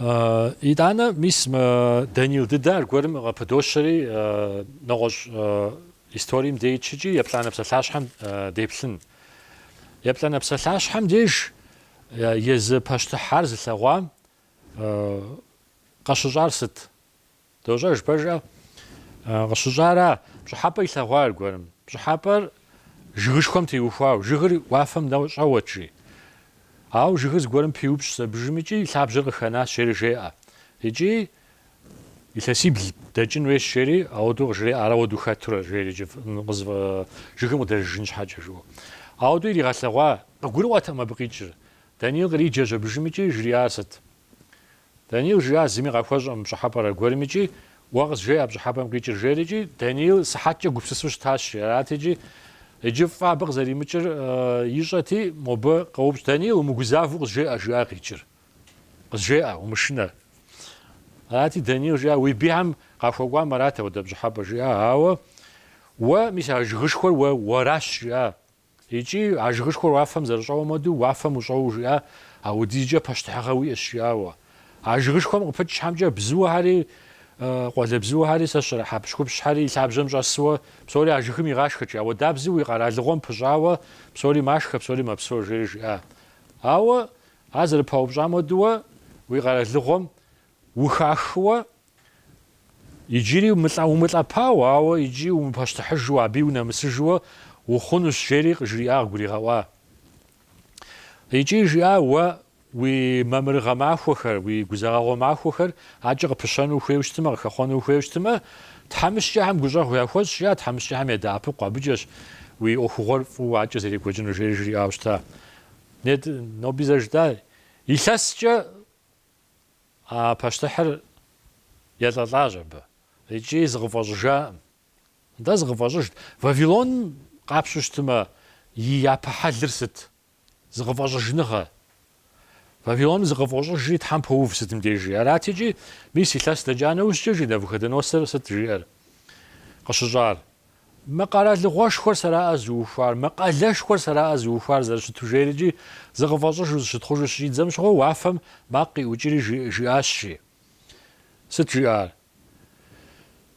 Итӏанэ, мис мы Даниил дыдэ аргуэрым къыпыдощэри, нэгъуэщӏ историем де итщ икӏи, еплӏанэ псалъащхьэм деплъын. Еплӏанэ псалъащхьэм деж езы пащтыхь ар зылъэгъуам къыщыщӏар сыт? Дощӏэж пэжа? Къыщыщӏара пщӏыхьэпӏэ илъэгъуа аргуэрым? Пщӏыхьэпӏэр жыгышхуэм теухуау, жыгыр уафэм нэщӏэуэт, жи. Ауэ жыгыр зыгуэрым пиупщӏщ абыжым икӏи и лъабжьэр къыхэнащ, жери жеӏэ. Икӏи илъэсибл дэкӏын хуейщ, жери ауэдэу къыжреӏэ, ар ауэдэу хэтурэ, жери икӏи жыгым къыдэжыжын щхьэкӏэ жыӏэу. Ауэдэу иригъэлъэгъуа? Къыгурыӏуэтэкъым абы къикӏыр. Даниил къриджэщ абыжым икӏи жриӏар сыт? Даниил жиӏа зыми къахуэщӏэм пщӏыхьэпӏэр аргуэрым икӏи, Уэ къызжеӏэ а пщӏыхьэпӏэм къикӏыр жери икӏи, Даниил сыхьэткӏэ гупсысу щытащ. Арат икӏи. Иджы фӏы абы къызэримыкӏыр ищӏэти, мобы къоупщӏ, Даниил, умыгузавэу къызжеӏэ, жиӏа, къикӏыр. Къызжеӏэ, умышынэ. Арати, Даниил жиӏа, Уи бийхэм къахуэкӏуам арат апхуэдэ пщӏыхьэпӏэр жиӏа, ауэ уэ, мис а жыгышхуэр уэ, уэращ, жиӏа. Икӏи, а жыгышхуэр уафэм зэрыщӏэуэм хуэдэу, уафэм ущӏэуэ жиӏа, апхуэдизкӏэ пащтыхьыгъэ уиӏэщ, жиӏа, уэ. А жыгышхуэм къыпыкӏ щхьэмкӏэ бзуэхэри, къуалэбзуэхэри, псэущхьэри, хьэпщхупщхэри и лъабжьэм щӏэсуэ, псори а жыгым игъашхэкӏэ, апхуэдабзэу уи къэралыгъуэм пыщӏауэ, псори машхэ, псори мэпсэу, жери жиӏа. Ауэ, ар зэрыпаупщӏам хуэдэуэ, уи къэралыгъуэм ухахыуэ, Иджыри умылӏэпауэ, ауэ иджы умыпащтыхьыжу, абы унэмысыжуэ ухъунущ, жери къыжриӏа, къыгуригъэӏуа. Икӏи жиӏа уэ уи мамырыгъэ махуэхэр, уи гузэгъэгъуэ махуэхэр акӏэ къыпыщэну ухуейуэ щытымэ, къыхэхъуэну ухуейуэ щытымэ, тхьэмыщкӏэхэм гущӏэгъу яхуэщӏ, жиӏа, тхьэмыщкӏэхэм ядэӏэпыкъу абыкӏэщ уи ӏуэхугъуэр фӏыуэ акӏэ зэрекӏуэкӏынур, жери жриӏауэ щыта. Нет, ноби зэ жытӏа, илъэскӏэ. А пащтыхьыр елӏэлӏащ абы икӏи зыкъыфӏэщӏыжакъым. Да, зыкъыфӏэщӏыжт, Вавилон къапщтэу щытымэ, и япэ хьэлыр сыт? Зыкъыфӏэщӏыжныгъэ. Вавилоным зыкъыфӏощӏыжри, Тхьэм поув сытым дежи. Арат икӏи, мис илъэс дэкӏа нэужькӏэ жи Навуходоносор сыт жиӏэр къыщыщӏар? Мы къэралыгъуэшхуэр сэраӏэ зыухуар, мы къалэшхуэр сэраӏэ зыухуар зэрыщыту жери икӏи зыкъыфӏэщӏыжу зыщытхъужу щыщӏидзэм щыгъуэ уафэм макъ къиӏукӏри жиӏащи. Сыт жиӏар?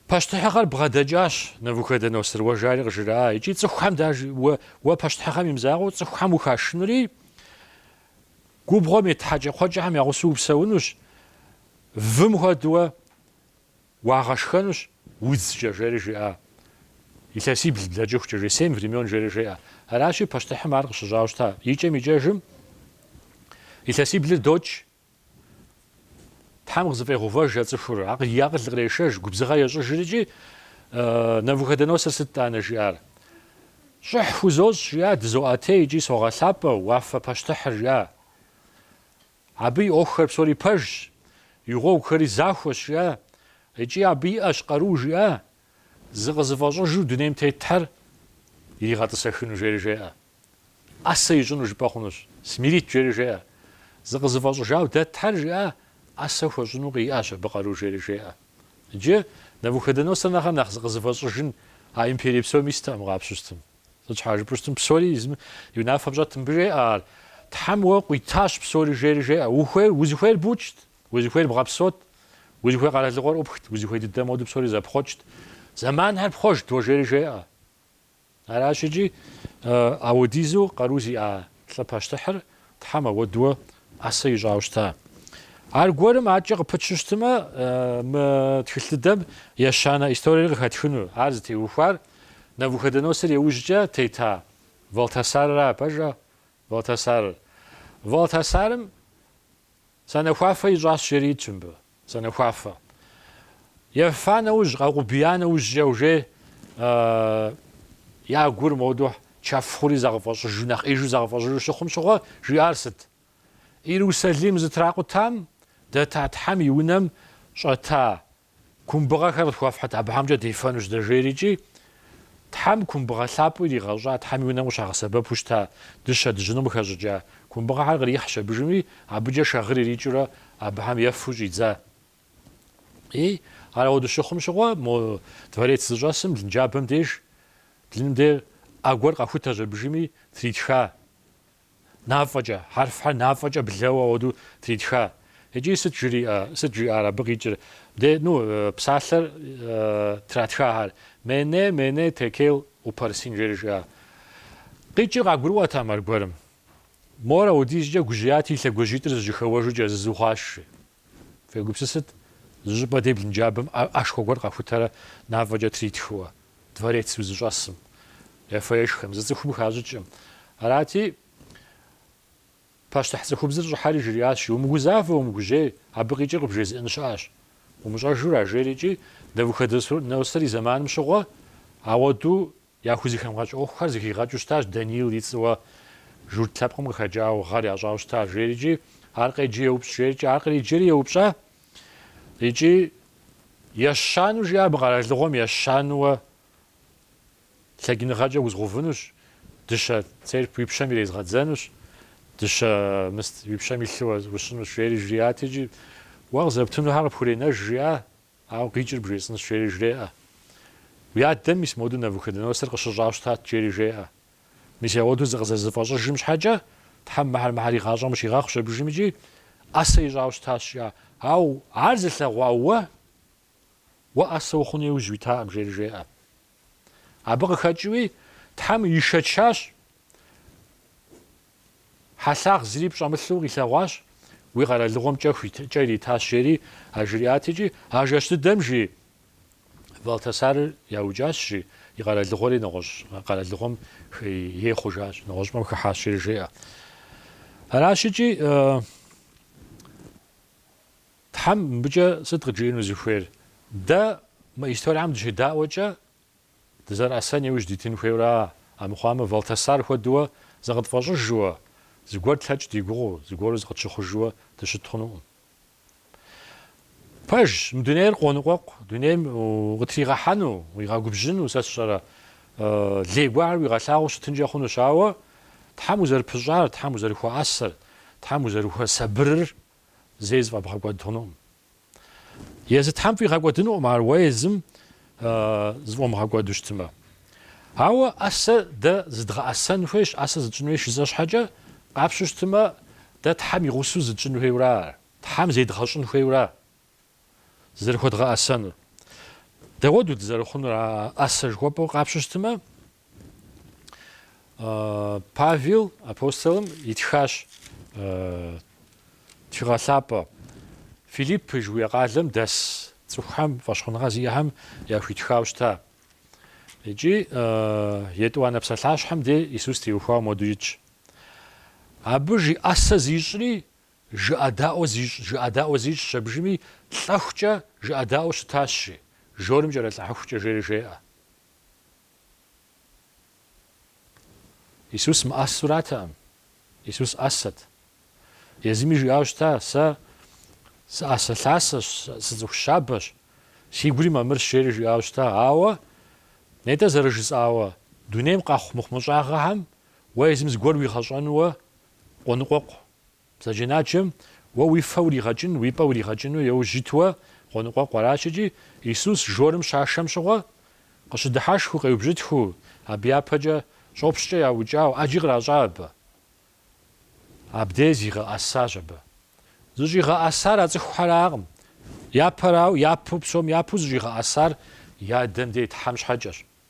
Пащтыхьыгъэр бгъэдэкӏащ, Навуходоносор, уэ жари къыжраӏа, икӏи цӏыхухэм даж, уэ пащтыхьыгъэм и мызакъуэу цӏыхухэм ухашынури, губгъуэм ит хьэкӏэкхъуэкӏэхэм я гъусэу упсэунущ, вым хуэдэуэ, Уагъэшхэнущ удзкӏэ, жери жиӏа. Илъэсибл блэкӏыхукӏэ, жи, семь времен, жери жеӏэ. Аращи, пащтыхьым ар къыщыщӏауэ щыта. Икӏэм-икӏэжым илъэсиблыр докӏ, Тхьэм къызыфӏегъэувэж а цӏыхур, акъ- и акъыл кърешэж, губзыгъэ ещӏыжри икӏи, Навуходоносор сыт итӏанэ жиӏар? Щӏыхь хузощӏ, жиӏа, дызоӏэтей икӏи согъэлъапӏэ, уафэ пащтыхьыр, жиӏа. Абы и ӏуэхухэр псори пэжщ, и гъуэгухэри захуэщ, жиӏа, икӏи абы иӏэщ къару, жиӏа, зыкъызыфӏэщӏыжу дунейм тетхэр иригъэтӏысэхыну, жери жеӏэ. ӏэсэ ищӏыну жыпӏэ хъунущ, смирит, жери жеӏэ. Зыкъызыфӏэщӏыжауэ дэтхэр, жиӏа, ӏэсэ хуэщӏыну къиӏэщ абы къару, жери жеӏэ. Иджы Навуходоносор нэхърэ нэхъ зыкъызыфӏэщӏыжын а империй псоми истэкъым къапщтэу щытмэ. Сыт щхьэ жыпӏэу щытым псори езым и унафэм щӏэт, мыбы жеӏэ ар, Тхьэм уэ къуитащ псори жери жеӏэ, ухуейр, узыхуейр букӏт, узыхуейр бгъэпсот, узыхуей къэралыгъуэр ӏупхт, узыхуей дыдэ моду псори зэпхъуэкӏт, зэманхэр пхъуэжт уэ жери жеӏэ. Аращ икӏи ауэдизу къару зиӏа Лӏы пащтыхьыр Тхьэм ауэдуэ ӏэсэ ищӏауэ щыта? Аргуэрым адэкӏэ къыпытщу щытымэ, мы тхылъ дыдэм ещанэ историер къыхэтхыну. Ар зытеухуар Навуходоносор иужькӏэ тета Валтасарыра, пэжа, Валтасарыр. Валтасарым Санэхуафэ ищӏащ жери итщ мыбы. Санэхуафэ. Ефа нэужь, къэкъубия нэужькӏэ уже я гур моду чэф хъури зэгъэфӏэщӏыжу, нэхъеижу зэгъэфӏэщӏыжу щыхъум щыгъуэ жиӏар сыт? Иерусалим зытракъутам, дэта Тхьэм и унэм щӏэта Кумбыгъэхэр къытхуэфхьыт абыхэмкӏэ дефэнущ дэ, жери икӏи Тхьэм кумбыгъэ лъапӏэу иригъэщӏа, Тхьэм и Унэм къыщагъэсэбэпу щыта дыщэ дыжьыным къыхэщӏыкӏа кумбыгъэхэр кърихьщ абыжми, абыкӏэ шагъыр ирикӏыурэ абыхэм ефу щӏидза. И, ар ауэду щыхъум щыгъуэ, мо дворец зыщӏэсым блынджабэм деж, блыным дей ӏэ гуэр къэхутэщ абыжми, тритха. Нафӏэкӏэ, хьэрфхэр нафӏэкӏэ блэуэ ауэду тритха. Икӏи сыт жриӏэ, сыт жиӏар абы къикӏыр? Де, ну, псалъэр тратхахэр. Мене, мене, текел упарсин, жери жиӏа. Къикӏыр къагурыӏуэтэкъым аргуэрым. Мор ауэдизкӏэ гужьеят и лъэгужьитӏыр зыжьыхэуэжу кӏэзызу хъуащ, жи. Фегупсысыт, зы щӏыпӏэ де блынджабэм ӏэшхуэ гуэр къэхутэрэ нафӏэкӏэ тритхыуэ, дворец узыщӏэсым, ефэ-ешхэм, зы цӏыхум хащӏыкӏым. Арати, пащтыхь цӏыхубзыр щӏыхьэри жриӏащ, Умыгузавэ, умыгужьей, абы къикӏыр къыбжезыӏэн щыӏэщ. Умыщӏэжу ара, жери икӏи, Навуходоносор и зэманым щыгъуэ, ауэду Яхузыхэмыгъэкӏ ӏуэхухэр зыхигъэкӏыу щытащ Даниил и цӏыуэ журт лъэпкъым къыхэкӏауэ гъэр ящӏауэ щыта жери икӏи, ар къеджи еупщӏ жери икӏи, ар къриджэри еупщӏа икӏи ещанэу жиӏа абы къэралыгъуэм ещанэуэ лъэкӏыныгъэкӏэ узгъэувынущ, дыщэ цеп уи пщэм ирезгъэдзэнущ, дыщэ мыст уи пщэм илъу усщӏынущ жери жриӏат икӏи уэ къызэптынухэр къыпхуренэж жиӏа Ауэ къикӏыр бжесӏэнщ, жери жреӏэ. Уи адэм мис моду Навуходоносор къыщыщӏауэ щытат, жери жеӏэ. Мис ауэду зыкъызэрызыфӏэщӏыжым щхьэкӏэ, Тхьэм мыхьэр мыхьэр и гъащӏэм къыщигъэхъущ абыжым икӏи ӏэсэ ищӏауэ щытащ, жиӏа. Ауэ ар зылъэгъуа уэ, уэ ӏэсэ ухъуну иужь уитакъым, жери жеӏэ. Абы къыхэкӏыуи Тхьэм ишэчащ, хьэлъагъ зыри пщӏэмылъу къилъэгъуащ, уи къэралыгъуэм кӏэух, кӏэ иритащ, жери ажриӏат икӏи а жэщ дыдэм жи Валтасарыр яукӏащ, жи и къэралыгъуэри нэгъуэщӏ къэралыгъуэм ей хъужащ, нэгъуэщӏпӏэм хыхьащ, жери жеӏэ. Аращ икӏи. Тхьэм мыбыкӏэ сыт къыджиӏэну зыхуейр? Дэ мы историям дыщедаӏуэкӏэ дызэрыӏэсэн иужь дитын хуейуэ ара? Амыхъуамэ, Валтасар хуэдэуэ зыкъытфӏэщӏыжууэ, зыгуэр тлъэкӏ ди гугъэу, зыгуэру зыкъытщыхъужууэ дыщыт хъунукъым. Пэжщ, мы дунейр къоныкъуэкъу, дунейм укъытригъэхьэну, уигъэгубжьыну, сэ сщӏэрэ, лей гуэрхэр уигъэлъагъуу щытынкӏэ хъунущ, ауэ Тхьэм узэрыпыщӏар, Тхьэм узэрыхуэӏэсэр, Тхьэм узэрыхуэсабырыр зэи зыфӏэбгъэкӏуэд хъунукъым. Езы Тхьэм фӏигъэкӏуэдынукъым ар уэ езым зыфӏумыгъэкӏуэду щытымэ. Ауэ ӏэсэ дэ зыдгъэӏэсэн хуейщ, ӏэсэ зытщӏын хуейщ жысӏэ щхьэкӏэ, къапщу щытымэ, дэ Тхьэм и гъусэу зытщӏын хуейуэ ара ар? Тхьэм зедгъэщӏын хуейуэ ара? зызэрыхуэдгъэӏэсэнур. Дауэду дызэрыхъунур а ӏэсэ жыхуэпӏэу къапщу щытымэ, Павел апостолым итхащ Тхыгъэ Лъапӏэ Филиппы жыхуиӏэ къалэм дэс цӏыхухэм фӏэщхъуныгъэ зиӏэхэм яхуитхауэ щыта. Икӏи етӏуанэ псалъащхьэм де Исус теухуауэ моду итщ. Абы жи ӏэсэ зищӏри Жыӏэдаӏуэ зищӏ, жыӏэдаӏуэ зищӏщ аби, жи, лӏэхукӏэ жыӏэдаӏуэу щытащ, жи. Жорым кӏэрылӏыхьыхукӏэ жери жеӏэ. Исус мыӏэсуратэкъым. Исус ӏэсэт. Езыми жиӏауэ щыта, Сэ сыӏэсэлъасэщ, сыцӏыху щабэщ, си гури мамырщ, жери жиӏауэ щыта. Ауэ нетӏэ зэрыжысӏауэ, дунейм къэхъу мыхъумыщӏагъэхэм уэ езым зыгуэр уигъэщӏэнуэ къоныкъуэкъу. Бзаджэнаджэм уэ уи фэ уригъэкӏыну, уи пӏэ уригъэкӏыну еужь итуэ къоныкъуэкъу аращ икӏи, Исус жорым щашэм щыгъуэ, къыщыдыхьэшхыу къеубжьытхыу, абы япэкӏэ щӏопщкӏэ яукӏауэ ӏэджи къращӏа абы. Абдей зигъэӏэсащ абы. Зыщӏигъэӏэсар а цӏыхухьэракъым, япэрауэ, япэу, псом япэу зыщӏигъэӏэсар и Адэм де и Тхьэм щхьэкӏэщ.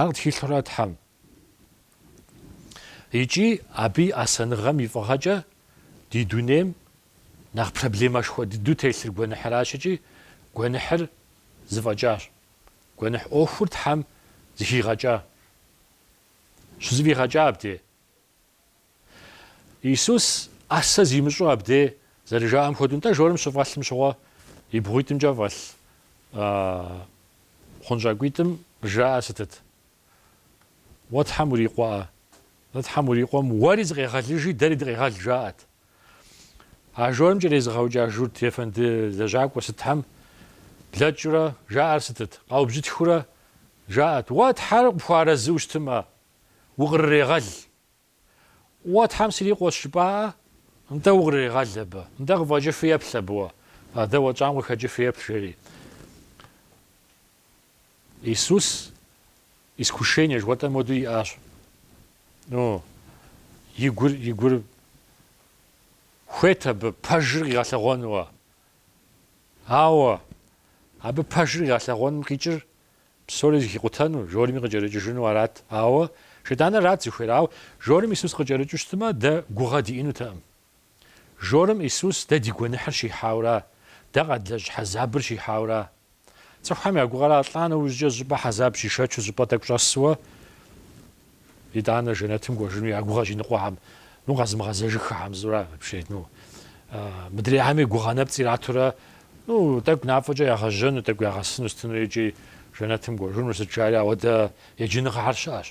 Ар къытхилъхьэура Тхьэм. Икӏи Абы и ӏэсэныгъэм и фӏыгъэкӏэ ди дунейм нэхъ проблемэшхуэ дыдэу телъыр гуэныхьыращ икӏи гуэныхьыр зыфӏэкӏащ. Гуэныхь ӏуэхур Тхьэм зыхигъэкӏа, щызэфӏигъэкӏа абде. Исус ӏэсэ зимыщӏу абде зэрыжаӏэм хуэдэу, нтӏэ жорым щыфӏэлъым щыгъуэ и бгъуитӏымкӏэ фӏэлъ хъунщӏакӏуитӏым жаӏэр сытыт? Уэ Тхьэм урикъуэӏэ? Нтӏэ Тхьэм урикъуэм уэри зыкъегъэлыжи, дэри дыкъегъэл, жаӏэт. А жорым кӏэрезыгъэукӏа Журт ефэнды лэжьакӏуэ сытхьэм блэкӏыурэ жаӏэр сытыт? Къаубжьытхыурэ жаӏэт, Уэ Тхьэр къыпхуэарэзыу щытымэ? укърырегъэл. Уэ Тхьэм сырикъуэщ жыпӏаӏэ, нтӏэ укърырегъэл абы, нтӏэ къыфӏэкӏыфу еплъ абы уэ, а дэ уэтщӏам къыхэкӏыфу еплъ, жери. Иисус искушение жыхуэтӏэм хуэдэу иӏащ. Ну, и гур, и гур хуейт абы пэжыр къигъэлъэгъуэнуэ. Ауэ абы пэжыр къигъэлъэгъуэным къикӏыр Псори зыхикъутэну, жорыми къыкӏэрыкӏыжыну арат. Ауэ Шейтаныр арат зыхуейр. Ауэ жорым Исус къыкӏэрыкӏыу щытмэ, дэ гугъэ диӏэнутэкъым. Жорым Исус дэ ди гуэныхьыр щихьаура, дэ къэдлэжь хьэзабыр щихьаура. Цӏыхухэм я гугъэра лӏа нэужькӏэ щӏыпӏэ хьэзаб щишэчу щӏыпӏэ тӏэкӏу щӏэсуэ Итӏанэ жэнэтым кӏуэжыну я гугъэщ иныкъуэхэм, ну къэзымыгъэзэжыххэхэм зыӏурэ апщий, ну, мыдрейхэми гугъэ нэпцӏ иратурэ, ну, тӏэкӏу нафӏэкӏэ ягъэжьэну, тӏэкӏу ягъэсыну сытыну икӏи жэнэтым кӏуэжыну, сыт жаӏэри ауэдэ еджэныгъэхэр щыӏэщ.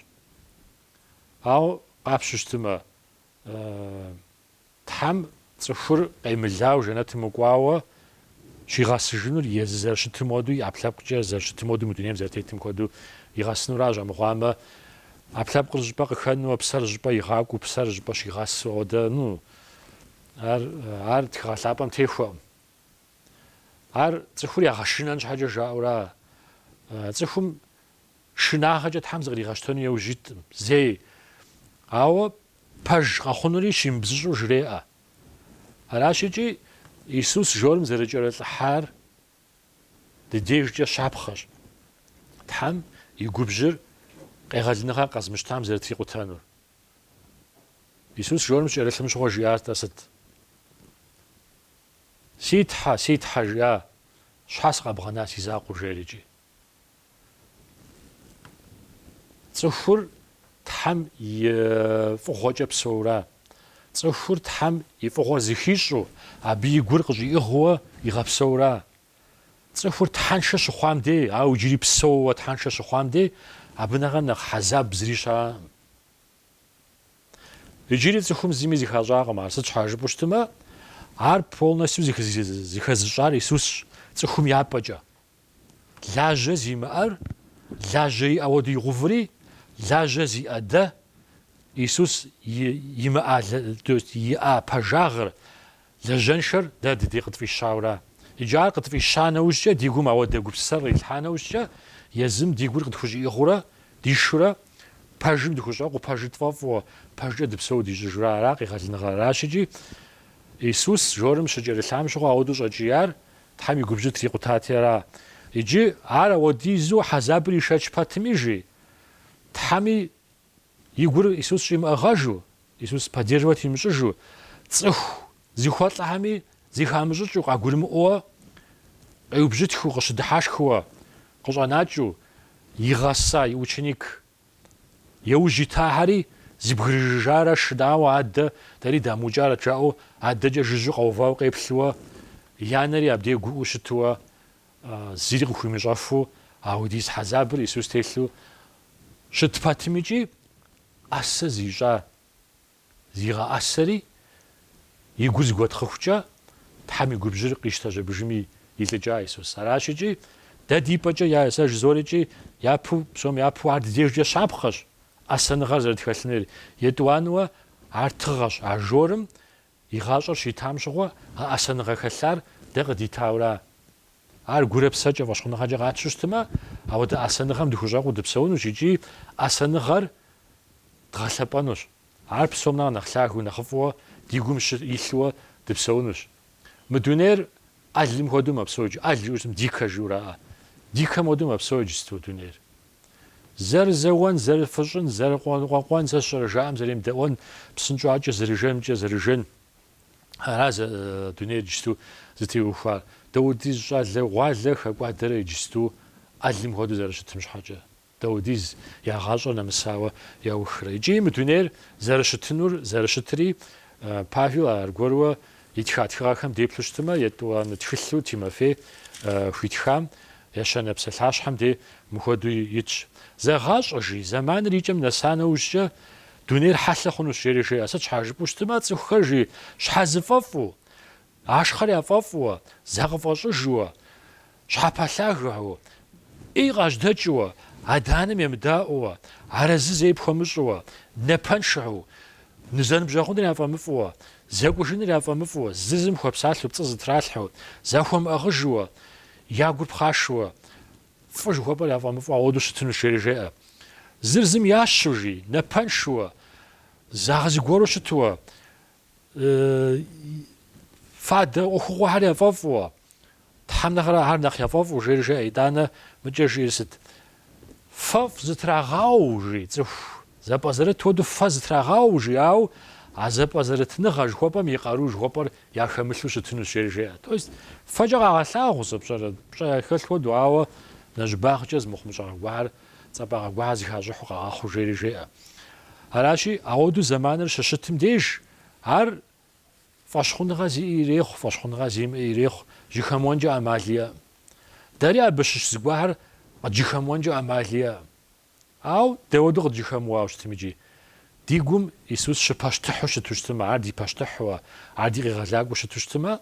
Ауэ къапщтэу щытымэ, Тхьэм цӏыхур къемылауэ жэнэтым мыкӏуауэ щигъэсыжынур езы зэрыщытым хуэдэу, и ӏэпкълъэпкъкӏэ зэрыщытым хуэдэу, мы дунейм зэрытетым хуэдэу игъэсынуращ, амыхъуамэ, ӏэпкълъэпкъыр зы щӏыпӏэ къыхэнууэ, псэр зы щӏыпӏэ игъакӏуэу, псэр щӏыпӏэ щигъэсу хуэдэ, ну, ар, ар тхыгъэ лъапӏэм техуэкъым. Ар цӏыхур ягъэшынэн щхьэкӏэ жаӏэура? Цӏыхум Шынагъэкӏэ Тхьэм зыкъригъэщтэну яужь иткъым зэи, ауэ пэж къэхъунури щимыбзыщӏу жреӏэ. Аращ икӏи Исус жорым зэрыкӏэрылӏыхьар ди дежкӏэ щапхъэщ Тхьэм и губжьыр къегъэлыныгъэр къэзмыщтам зэрытрикъутэнур. Исус жорым щыкӏэрылъым щыгъуэ жиӏар-тӏэ сыт? Си Тхьэ, си Тхьэ, жиӏа, щхьэ сыкъэбгъэна си закъуэу? жери икӏи. Цӏыхур Тхьэм и фӏыгъуэкӏэ псэура? Цӏыхур Тхьэм и фӏыгъуэ зыхищӏу, абы и гур къыщӏиӏыгъыуэ игъэпсэура? Цӏыхур Тхьэншэ щыхъуам дей, ауэ иджыри псэууэ Тхьэншэ щыхъуам дей, абы нэхъэ нэхъ хьэзаб зыри щыӏэкъым. Иджыри цӏыхум зыми зыхащӏакъым ар, сыт щхьа жыпӏэу щытымэ, ар полностью зыхэзыщӏар Исусщ, цӏыхум я пӏэкӏэ. Лажьэ зимыӏэр лажьэ иӏэ уэду игъэуври, лажьэ зиӏэ дэ, Исус имыӏа, иӏа пэжагъыр, лэжьэншэр дэ дыдей къытфӏищаура? Иджы ар къытфӏища нэужькӏэ, ди гум ауэдэ гупсысэр ирилъхьа нэужькӏэ, езым ди гур къытхущӏиӏыгъыурэ, дишурэ, пэжым дыхущӏэкъуу, пэжыр тфӏэфӏу, пэжкӏэ дыпсэуу дищӏыжурэ ара къегъэлыныгъэр? Аращ икӏи Исус жорым щыкӏэрылъам щыгъуэ ауэду щӏэкӏияр, Тхьэм и губжьыр трикъутати ара? Иджы ар ауэдизу хьэзабыр ишэч пэтми, жи, Тхьэми и гур Исус щӏимыӏыгъэжу, Исус поддерживать имыщӏыжу, цӏыху зыхуэлӏэхэми зыхамыщӏыкӏыу, къагурымыӏуэ, къеубжьытхыу, къыщыдыхьэшхыуэ, къыщӏэнакӏыу, игъэса и ученик Иужь итахэри зэбгрыжыжарэ шынауэ адэ дэри дамыукӏарэт жаӏэу адэкӏэ жыжьу къэувауэ къеплъыуэ, и анэри абдей гуӏуу щытыуэ, зири къыхуимыщӏэфу ауэдиз хьэзабыр Исус телъу щыт пэтым икӏи ӏэсэ зищӏа Зигъэӏэсэри, и гур зыгуэтхъыхукӏэ, Тхьэм и губжьыр къищтэжьэбыжми илӏыкӏа Исус. Аращ икӏи, дэ ди пӏэкӏэ я и сэ жызоӏэри икӏи япэу, псом япэу ар ди дежкӏэ щапхъэщ, ӏэсэныгъэр зэрытхэлъынур етӏуанэуэ ар тыгъэщ, а жорым и гъащӏэр щитам щыгъуэ а ӏэсэныгъэ хэлъар дэ къыдитаура? Ар гурэ псэкӏэ фӏэщхъуныгъэкӏэ къэтщтэу щытмэ, ауэдэ ӏэсэныгъэм дыхущӏэкъуу дыпсэунущ икӏи ӏэсэныгъэр дгъэлъэпӏэнущ. Ар псом нэхъ нэхъ лъагэу, нэхъыфӏыуэ ди гум щы илъууэ дыпсэунущ. Мы дунейр ӏэлым хуэдэу мэпсэуж. ӏэл жиӏэу щытым дикэ жиӏэу ара. Дикэм хуэдэу мэпсэу иджысту дунейр. Зэрызэуэн, зэрыфыщӏын, зэрыкъуэ-къуэн, сэ сщӏэрэ жаӏэм зэремыдэӏуэн, псынщӏакӏэ зэрыжэмкӏэ зэрыжэн. Ара зэ дунейр иджысту зытеухуар? Даудиз щӏалэгъуалэ хэкӏуадэрэ иджысту ӏэлым хуэдэу зэрыщытым щхьэкӏэ. Даудиз я гъащӏэр нэмысауэ яухрэ. Икӏи мы дунейр зэрыщытынур, зэрыщытри, Павел ар аргуэру итха тхыгъэхэм деплъу щытымэ, етӏуанэ тхылъу Тимофей хуитхам, ещанэ псалъащхьэм де мыхуэдэу итщ. Зэгъащӏэ, жи, зэманыр икӏэм нэса нэужькӏэ, Дунейр хьэлъэ хъунущ, жери жеӏэ. Сыт щхьа жыпӏэу щытмэ, цӏыхухэр жи щхьэзыфӏэфӏу, ашхъэр яфӏэфӏуэ, закъыфӏэщӏыжуэ, щхьэпэлъагэу, ӏей къажьэдэкӏыуэ, адэ-анэм емыдаӏуэуэ, арэзы зэи пхуэмыщӏыуэ, напэншэу, ны зэныбжьэгъуныр яфӏэмыфӏуэ, зэкӏужыныр яфӏэмыфӏу, зы зым хуэпсалъэу, пцӏы зытралъхьэу, захуэмыӏыгъыжуэ, я гур пхъашэуэ, Фӏы жыхуэпӏэр яфӏэмыфӏу ауэдэу щытыну жери жеӏэ. Зыр зым ящу жи, напэншуэ, загъэзыгуэру щытуэ, фадэ ӏуэхугъуэхэр яфӏэфӏуэ. Тхьэм нэхърэ ар нэхъ яфӏэфӏу жери жеӏэ. Итӏанэ мыкӏэ жиӏэр сыт? Фэфӏ зытрагъау, жи цӏыху. Зэпӏэзэрыт хуэдэу фэ зытрагъауэу жиӏауэ а зэпӏэзэрытныгъэ жыхуэпӏэм и къару жыхуэпӏэр яхэмылъу щытынущ, жери жеӏэ. То есть фэкӏэ къагъэлъагъу зы пщӏэрэ пщӏэ яхэлъ хуэдэу, ауэ нэщӏыбагъкӏэ зы мыхъумыщӏагъэ гуахэр цӏапӏагъэ гуахэр зыхащӏыхьу къагъэхъуу, жери жеӏэ. Аращи, ауэдэу зэманыр щыщытым деж ар фӏэщхъуныгъэ зиӏи ирехъу, фӏэщхъуныгъэ зимыӏи ирехъу, жьыхэмыуэнкӏэ ӏэмал иӏэӏым. Дэри абы щыщ зыгуахэр къыджьыхэмыуэнкӏэ ӏэмал иӏэӏым. Ауэ дауэду къыджьыхэмыуауэ щытым икӏи? Ди гум Исус щыпащтыхьу щыту щытымэ, Ар ди пащтыхьуэ, Ар ди Къигъэлакӏуэ щыту щытымэ,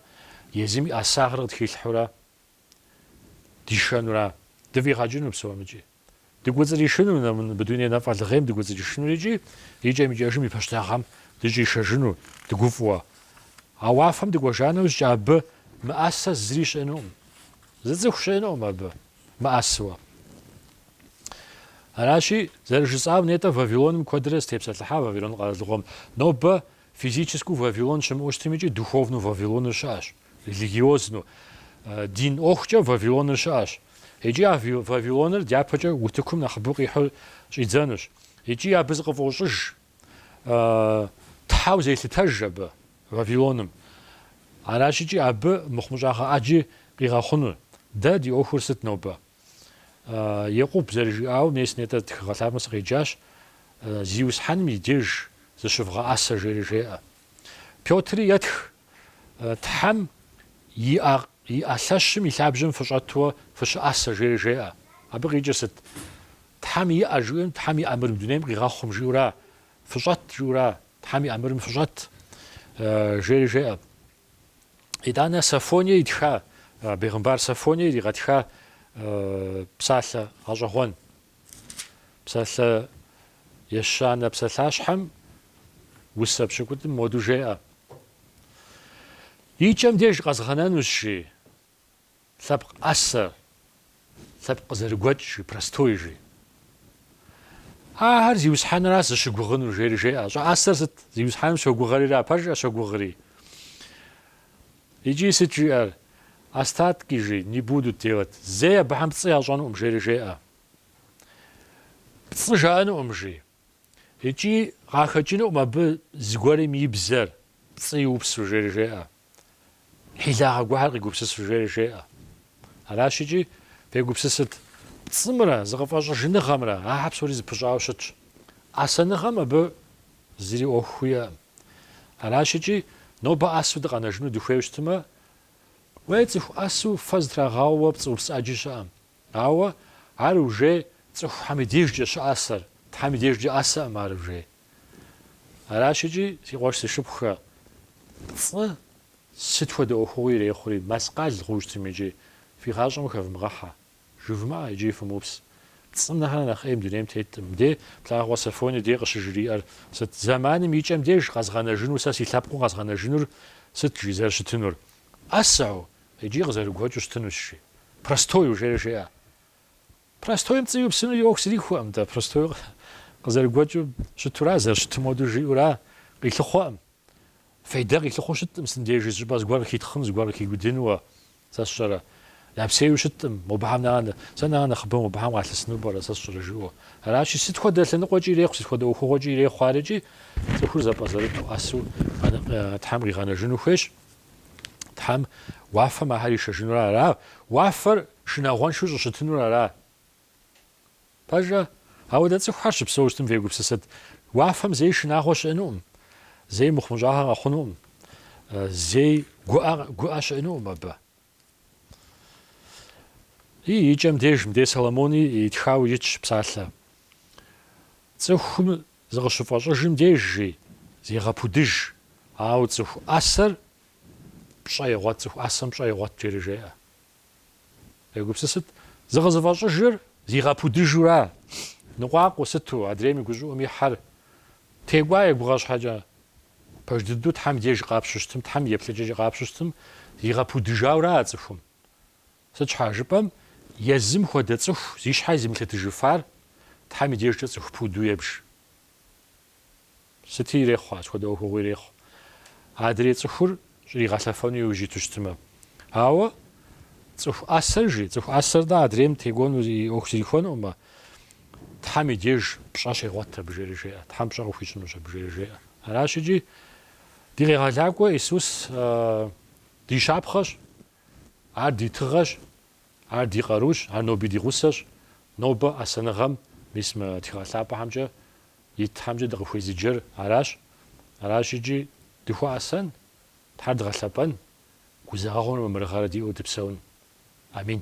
езым и ӏэсагъыр къытхилъхьэурэ дишэнура? Дыфӏигъэкӏыну псом икӏи? Дыкӏуэцӏришыну мы дуней нэфӏэлгъейм дыкӏуэцӏришыну икӏи икӏэм-икӏэжым и пащтыхьыгъэм дыщӏишэжыну дыгуфӏыуэ? А уафэм дыкӏуэжа нэужькӏэ абы мыӏэсэ зыри щыӏэнукъым. Зы цӏыху щыӏэнукъым абы. мыӏэсыуэ. Аращи, зэрыжысӏам, нетӏэ Вавилоным куэдрэ сытепсэлъыхьа Вавилон къэралыгъуэм. Нобэ физическэу Вавилон щымыӏэу щытым икӏи духовнэу Вавилоныр щыӏэщ, религиозну, дин ӏуэхукӏэ Вавилоныр щыӏэщ. Икӏи а Вавилоныр дяпэкӏэ утыкум нэхъыбэу къихьэу щӏидзэнущ. Икӏи абы зыкъыфӏощӏыж Тхьэу зелъытэж абы. Вавилоным. Аращ икӏи абы мыхъумыщӏагъэ ӏэджи къигъэхъуну. Дэ ди ӏуэхур сыт нобэ? Екъуб зэрыжиӏауэ, мес нетӏэ тхыгъэ лъапӏэм сыкъеджащ, Зиусхьэным и деж зыщывгъэӏэсэ, жери жеӏэ. Пётри етх, Тхьэм и ӏэ лъэщым и лъабжьэм фыщӏэтуэ фыщыӏэсэ, жери жеӏэ. Абы къикӏыр сыт? Тхьэм и ӏэ жиӏэм, Тхьэм и ӏэмырым дунейм къигъэхъум жиӏэура? Фыщӏэт жиӏэура? Тхьэм и ӏэмырым фыщӏэт, жери жеӏэ. Итӏанэ Софоние итха, бегъымбар Софоние иригъэтха псалъэ гъэщӏэгъуэн. Псалъэ ещанэ псалъащхьэм усэ пщыкӏутӏым моду жеӏэ. И кӏэм деж къэзгъэнэнущ, жи. Лъэпкъ ӏэсэ, лъэпкъ къызэрыгуэкӏ жи, простой жи. Ахэр Зиусхьэныра зыщыгугъынур, жери жеӏэ. Щӏыӏэсэр сыт? Зиусхьэным щогугърира, пэжым щогугъри. Икӏи сыт жиӏэр? Остатки жи, не будут делать. Зэи абыхэм пцӏы ящӏэнукъым, жери жеӏэ. Пцӏы жаӏэнукъым жи. Икӏи къахэкӏынукъым абы зыгуэрым и бзэр, пцӏы иупсу, жери жеӏэ, хьилагъэ гуэхэр къигупсысу, жери жеӏэ. Аращ икӏи фегупсысыт пцӏымрэ зыкъыфӏэщӏыжыныгъэмрэ, ахэр псори зэпыщӏауэ щытщ. Ӏэсэныгъэм абы зыри ӏуэху хуиӏэкъым. Аращ икӏи нобэ ӏэсу дыкъэнэжыну дыхуейуэ щытмэ, уей цӏыху ӏэсу фэ зытрагъауэ пцӏы упс ӏэджи щыӏэм. Ауэ ар уже цӏыхухэм и дежкӏэ щыӏэсэр, Тхьэм и дежкӏэ ӏэсэкъым ар уже. Аращ икӏи, си къуэш си шыпхъухэ, пцӏы сыт хуэдэ ӏуэхугъуи ирехъури, мэскъал хъуу щытми икӏи, фи гъащӏэм хэвмыгъэхьэ, жывмыӏэ икӏи фымыупс. Пцӏым нэхърэ нэхъ ӏей дунейм теткъым. Мыде, плъагъурэ Софони деж къыщыжиӏэр сыт? Зэманым и кӏэм деж къэзгъэнэжыну сэ си лъэпкъыу къэзгъэнэжынур сыт жи зэрыщытынур? ӏэсэу, Икӏи къызэрыгуэкӏыу щытынущ, жи. Простою, жери жеӏэ. Простоим пцӏы иупсыну и ӏуэху зрихуэкъым дэ, простою къызэрыгуэкӏыу щытура, зэрыщытым хуэдэу жиӏэура, къилъыхъуэкъым. Фейдэ къилъыхъуэу щыткъым сындежи, зыщӏыпӏэ зыгуэр къыхитхъын, зыгуэр къыхигудынуэ. Сэ сщӏэрэ. Япсейуи щыткъым, мобыхэм нанэ. Сэ нанэ нэхъыбэу мобыхэм къалъысыну пӏэрэ, сэ сщӏэрэ жиӏэу. Аращи, сыт хуэдэ лъэныкъуэкӏи ирехъу, сыт хуэдэ ӏуэхугъуэкӏи ирехъу ар икӏи, цӏыхур зэпӏэзэрыту, ӏэсу Тхьэм къигъэнэжыну хуейщ. Тхьэм уафэм ахэр ишэжынур ара. Уафэр шынагъуэншэу щӏыщытынур ара. Пэжу, ауэ дэ цӏыхухэр щыпсэу щытым фегупсысыт. Уафэм зэи шынагъуэ щыӏэнукъым, зэи мыхъумыщӏагъэ къэхъунукъым, зэи гуӏэ, гуӏэ щыӏэнукъым абы. И икӏэм деж мыдей Соломони итхауэ итщ псалъэ. Цӏыхум Зыкъыщыфӏэщӏыжым деж, жи, зегъэпудыж, ауэ цӏыху ӏэсэр пщӏэ егъуэт, цӏыху ӏэсэм пщӏэ егъуэт, жери жеӏэ. Фегупсысыт, зыкъызыфӏэщӏыжыр зигъэпудыжура? Ныкъуакъуэ сыту, адрейм и гущӏыӏум ихьэр текӏуа егугъэ щхьэкӏэ, пэж дыдэу Тхьэм деж къапщтэу щытым, Тхьэм и еплъыкӏэкӏэ къапщтэу щытым, зигъэпудыжаура а цӏыхум? Сыт щхьэ жыпӏэм, езым хуэдэ цӏыху зи щхьэ езымылъытыжыфар Тхьэм и дежкӏэ цӏыху пуду ебж. Сыти ирехъу ар, сыт хуэдэ ӏуэхугъуи ирехъу. Адрей цӏыхур щӏригъэлъэфэну иужь иту щытмэ. Ауэ цӏыху ӏэсэр жи, цӏыху ӏэсэр-тӏэ адрейм текӏуэну и ӏуэху зрихуэнукъымэ, Тхьэм и деж пщӏэ щегъуэт абы жери жеӏэ, Тхьэм пщӏэ къыхуищӏынущ абы жери жеӏэ. Аращ икӏи ди Къегъэлакӏуэ Исус ди щапхъэщ. Ар ди тыгъэщ, ар ди къарущ, ар ноби ди гъусэщ. Нобэ ӏэсэныгъэм, мис мы тхыгъэ лъапӏэхэмкӏэ и Тхьэмкӏэ дыкъыхуезыджэр аращ. Аращ икӏи дыхуэӏэсэн, Тхьэр дгъэлъэпӏэн, гузэгъэгъуэмрэ мамырыгъэрэ диӏэу дыпсэун. Амин.